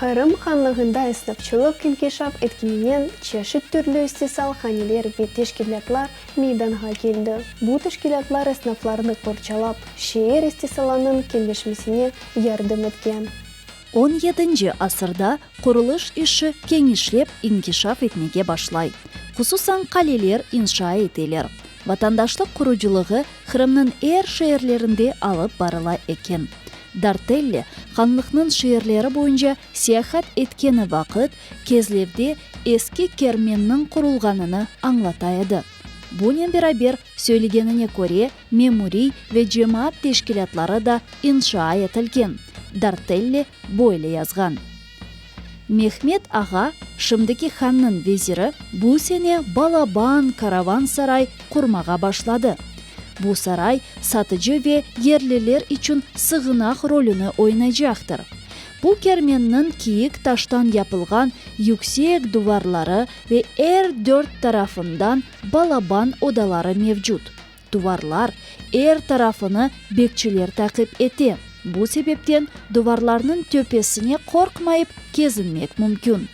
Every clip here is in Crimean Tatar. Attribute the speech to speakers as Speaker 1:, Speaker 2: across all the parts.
Speaker 1: Qırım Hanlığında esnafçılıq inkişaf etkeninen çeşit türlü istisal haneler ve teşkilâtlar meydanğa keldi. Bu teşkilâtlar esnaflarnı qorçalap, şeer istisalanıñ kenleşmesine yardım etken. On yedinci
Speaker 2: asırda qurulış işi kenişlep inkişaf etmege başlay, hususan qaleler inşa eteler. Vatandaşlıq qurucılığı Qırımnıñ er şeerlerinde alıp barıla eken. Dartelli, Hanlıqnıñ şeerleri boyunca seyahat etkeni vaqıt, Kezlevde eski kermenniñ qurulğanını añlata edi. Bunen beraber, söylegenine köre, memuriy ve cemaat teşkilâtları da inşaa etilgen. Dartelli böyle yazğan. Mehmet ağa, şimdiki hannıñ veziri, bu sene balaban, karavansaray, qurmağa başladı. Bu saray satıcı ve yerliler içün sığınaq rolüni oynaycaqtır. Bu kermenniñ kiyik taştan yapılğan yüksek duvarları ve er dört tarafından balaban odaları mevcut. Duvarlar er tarafını bekçiler taqip ete. Bu sebepten duvarlarnıñ töpesine qorqmayıp kezinmek mümkün.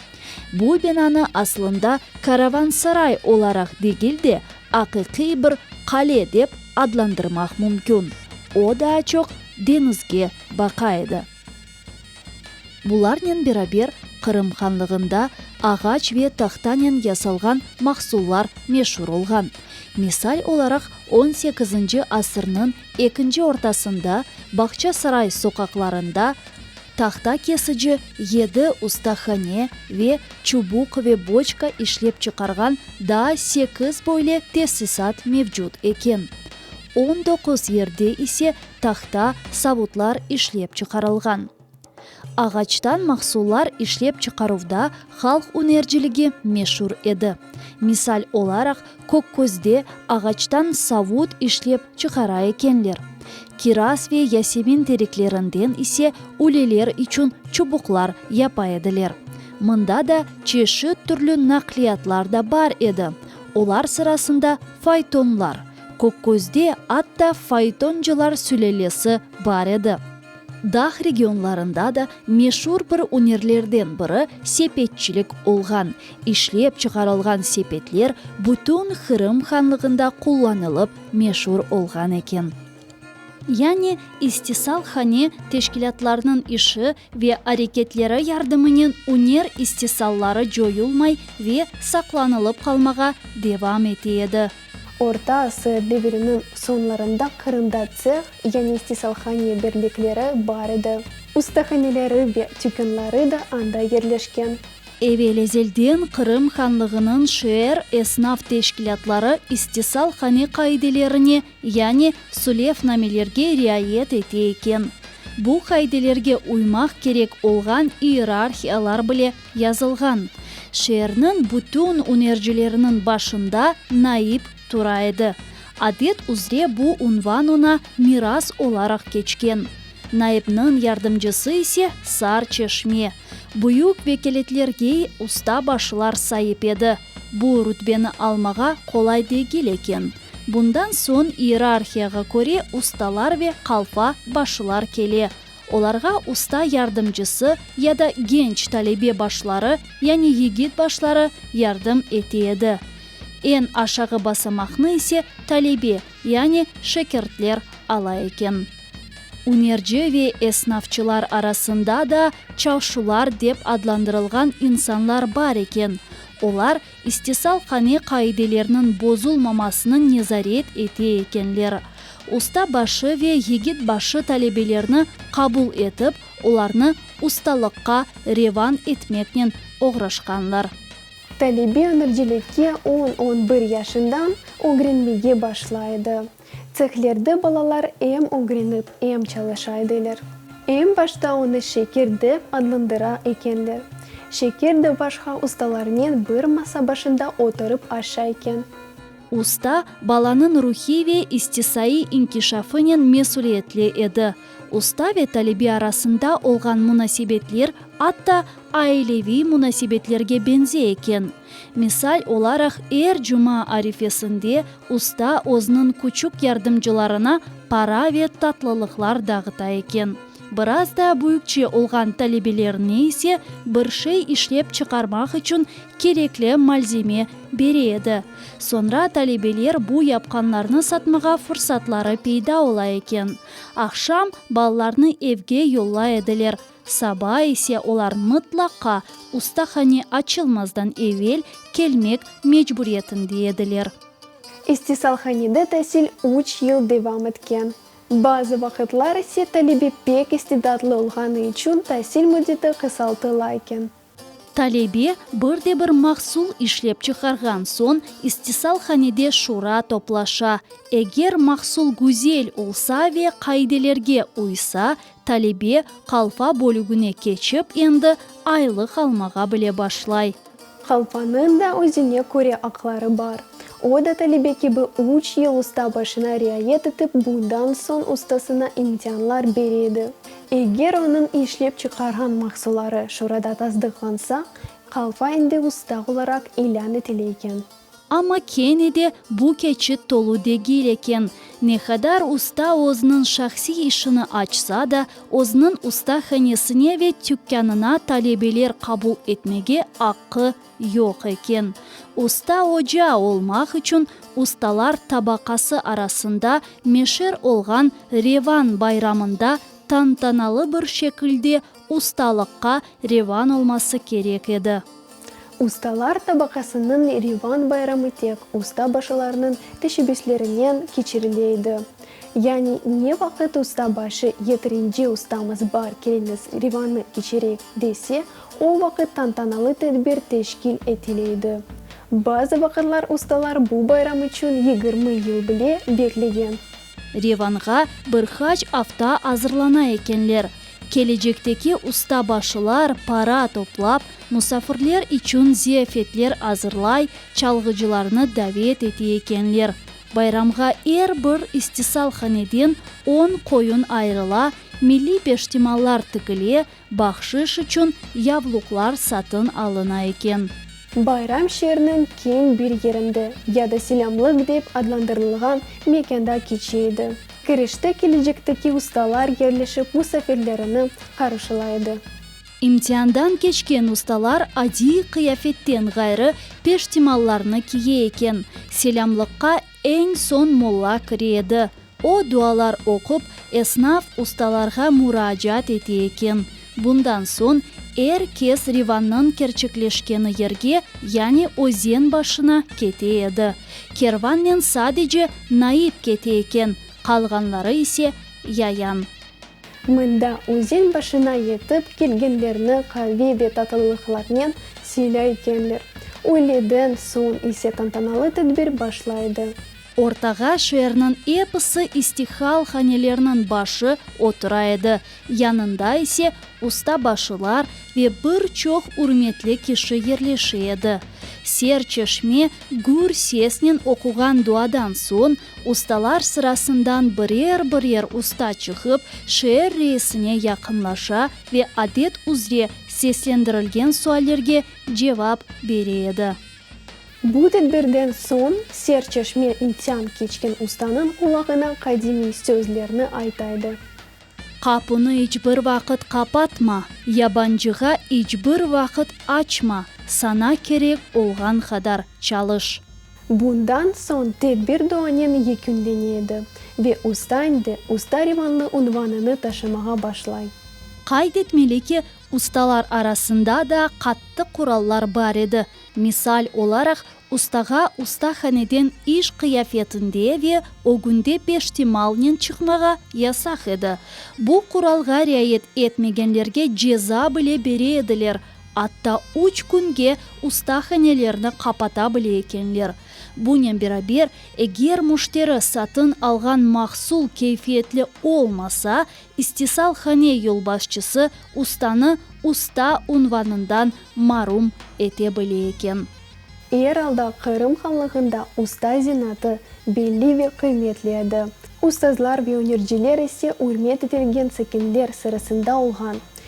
Speaker 2: Bu binanı aslında karavansaray olaraq degil de, aqiqiy bir qale dep adlandırmaq mümkün. O daa çoq deñizge baqa edi. Bularnen beraber Qırım hanlığında ağaç ve tahtanen yasalğan mahsullar meşur olğan. Misal olaraq on sekizinci asırnıñ ekinci ortasında Bağçasaray soqaqlarında tahta kesici yedi ustahane ve çubuq ve boçka işlep çıqarğan daa sekiz böyle tesisat mevcut eken. On doquz yerde ise tahta, savutlar işlep çıqarılğan. Ağaçtan mahsullar işlep çıqaruvda halq ünerciligi meşur edi. Misal olaraq, Kökközde ağaçtan savut işlep çıqara ekenler. Kiraz ve yasemin teriklerinden ise üleler içün çubuqlar yapa ediler. Mında da çeşit türlü naqliyatlar da bar edi, olar sırasında faytonlar, Kökközde atta faytoncılar sülelesi bar edi. Dağ regionlarında da meşur bir ünerlerden biri sepetçilik olğan. İşlep çıqarılğan sepetler bütün Qırım hanlığında qullanılıp meşur olğan eken. Yani, istisalhane teşkilâtlarnıñ işi ve areketleri yardımınen üner istisalları coyulmay ve saqlanılıp qalmağa devam ete edi. Orta
Speaker 1: asır deviriniñ soñlarında Qırımda tseh, yani istisalhane birlikleri bar edi. Ustahaneleri ve tükânları da anda yerleşken. Evel
Speaker 2: ezelden Qırım Hanlığınıñ şeer esnaf teşkilâtları istisalhane qaidelerine Yani sulevnamelerge riayet ete eken. Bu qaidelerge uymaq kerek olğan iyerarhiyalar bile yazılğan. Şeerniñ bütün ünercileriniñ başında naip tura edi. Adet üzre bu unvan oña miras olaraq keçken. Naipniñ yardımcısı ise sar çeşme. Büyük vekâletlergey usta başlar saip edi. Bu rütbeni almağa qolay degil eken. Bundan soñ iyerarhiyağa köre ustalar ve qalfa başılar kele. Olarğa usta yardımcısı ya da genç talebe başları, yani yigit başları, yardım ete edi. Eñ aşağı basamaqnı ise talebe, yani şekirtler ala eken. Ünerci ve esnafçılar arasında da çalşular dep adlandırılğan insanlar bar eken. Olar İstisal qane qaidelerniñ bozulmamasını nezaret ete ekenler. Usta başı ve yigit başı talebelerni qabul etip, olarnı ustalıqqa revan etmeknen oğraşqanlar. Talebe
Speaker 1: ameliyelikge on-on bir yaşından ögrenmege başlay edi. Tsexlerde balalar em ögrenip, em çalışa edeler. Eñ başta onı şeker dep adlandıra ekenler. Şeker de başqa ustalarnen bir masa başında oturıp aşa eken. Usta,
Speaker 2: balanıñ ruhiy ve istisaiy inkişafınen mesüliyetli edi. Usta ve talebe arasında olğan munasebetler atta aileviy munasebetlerge beñze eken. Misal olaraq, er cuma arifesinde usta özüniñ küçük yardımcılarına para ve tatlılıqlar dağıta eken. Biraz daa büyükçe olğan talebelerine ise bir şey işlep çıqarmaq içün kerekli malzeme bere edi. Soñra talebeler bu yapqanlarnı satmağa fursatları peyda ola eken. Aqşam ballarnı evge yollay ediler. Saba ise olar mıtlaqa ustahane açılmazdan evel kelmek mecburiyetinde ediler. İstisalhanede
Speaker 1: tasil üç yıl devam etken. Bazı vaqıtlar ise talebe pek istidatlı olğanı içün tasil müddeti qısaltılaken, Talebe
Speaker 2: bir de bir mahsul işlep çıqarğan soñ, istisal-hanede şura toplaşa. Eger mahsul güzel olsa ve qaidelerge uysa, talebe qalfa bölügine keçip endi aylıq almağa bile başlay. Qalfanıñ
Speaker 1: da özüne köre aqları bar. O da talebe kibi üç yıl usta başına riayet etip, bundan soñ ustasına imtianlar bere edi. Eger onıñ işlep çıqarğan mahsulları şurada tasdıqlansa, qalfa endi usta olaraq ilân etile eken. Amma
Speaker 2: kene de bu keçit tolu degil eken. Ne qadar usta özüniñ şahsiy işini açsa da, özüniñ ustahanesine ve tükânına talebeler qabul etmege aqqı Yoq eken. Usta oca olmaq içün ustalar tabaqası arasında meşer olğan Revan bayramında tantanalı bir şekilde ustalıqqa revan olması kerek edi. Ustalar
Speaker 1: tabaqasınıñ revan bayramı tek usta başılarnıñ teşebbüslerinen keçirile edi. Yani ne vaqıt usta başı yeterince ustamız bar keliniz revanı keçirek dese, O vaqıt tantanalı tedbir teşkil etile edi. Bazı vaqıtlar ustalar bu bayram içün yigirmi yıl bile beklegen. Revanğa
Speaker 2: bir qaç afta azırlana ekenler. Kelecekteki ustabaşılar para toplap, musafirler içün ziyafetler azırlay, çalğıcılarnı davet ete ekenler. Bayramğa er bir istisalhaneden on qoyun ayırıla, milliy peştimallar tikile, Bahşış içün yabluqlar satın alına eken. Bayram
Speaker 1: şeerniñ keñ bir yerinde, ya da silâmlıq dep adlandırılğan mekânda keçe edi. Kirişte kelecekteki ustalar yerleşip musafirlerini qarşılay edi. İmtiandan
Speaker 2: keçken ustalar adiy qıyafetten ğayrı peştimallarnı kiye eken. Selâmlıqqa eñ soñ molla kire edi. O, dualar oqup, esnaf, ustalarğa muraacaat ete eken. Bundan soñ er kes Rivannıñ kerçekleşkeni yerge, yani özen başına kete edi. Kervannen sadece Naip kete eken, qalğanları ise, yayan. Mında
Speaker 1: özen başına yetip kelgenlerni qavi ve tatlılıqlarnen siylay ekenler. Öğleden soñ ise tantanalı tedbir başlaydı. Ortağa
Speaker 2: şeerniñ episi istihal hanelerniñ başı otura edi, yanında ise ustabaşılar ve bir çoq ürmetli kişi yerleşe edi. Serçeşme gür sesnen oquğan duadan soñ, ustalar sırasından birer-birer usta çıqıp, şeer reisine yaqınlaşa ve adet üzre seslendirilgen suallerge cevap bere edi. Bu
Speaker 1: tedbirden soñ serçeşme İntyan keçken ustanıñ qulağına qadimiy sözlerni aytaydı. Qapunı
Speaker 2: iç bir vaqıt qapatma, yabancığa iç bir vaqıt açma, sana kerek olğan qadar çalış. Bundan
Speaker 1: soñ tedbir duanen yekünlene edi ve usta endi Usta Rivanlı unvanını taşımağa başlay. Qayd etmeli
Speaker 2: ki, ustalar arasında da qattı qurallar bar edi, Misal olaraq, ustağa ustahaneden iş qıyafetinde ve ögünde peştemalnen çıqmağa yasaq edi. Bu quralğa riayet etmegenlerge ceza bile bere ediler, atta üç künge ustahanelerni qapata bile ekenler. Bunen beraber, eger müşteri satın alğan mahsul keyfiyetli olmasa, İstisalhane yolbaşçısı ustanı usta unvanından marum ete bile eken.
Speaker 1: Er alda Qırım Hanlığında usta zenatı belli ve qıymetli edi. Ustazlar ve ünerciler ise ürmet etilgen sakinler sırasında olğan.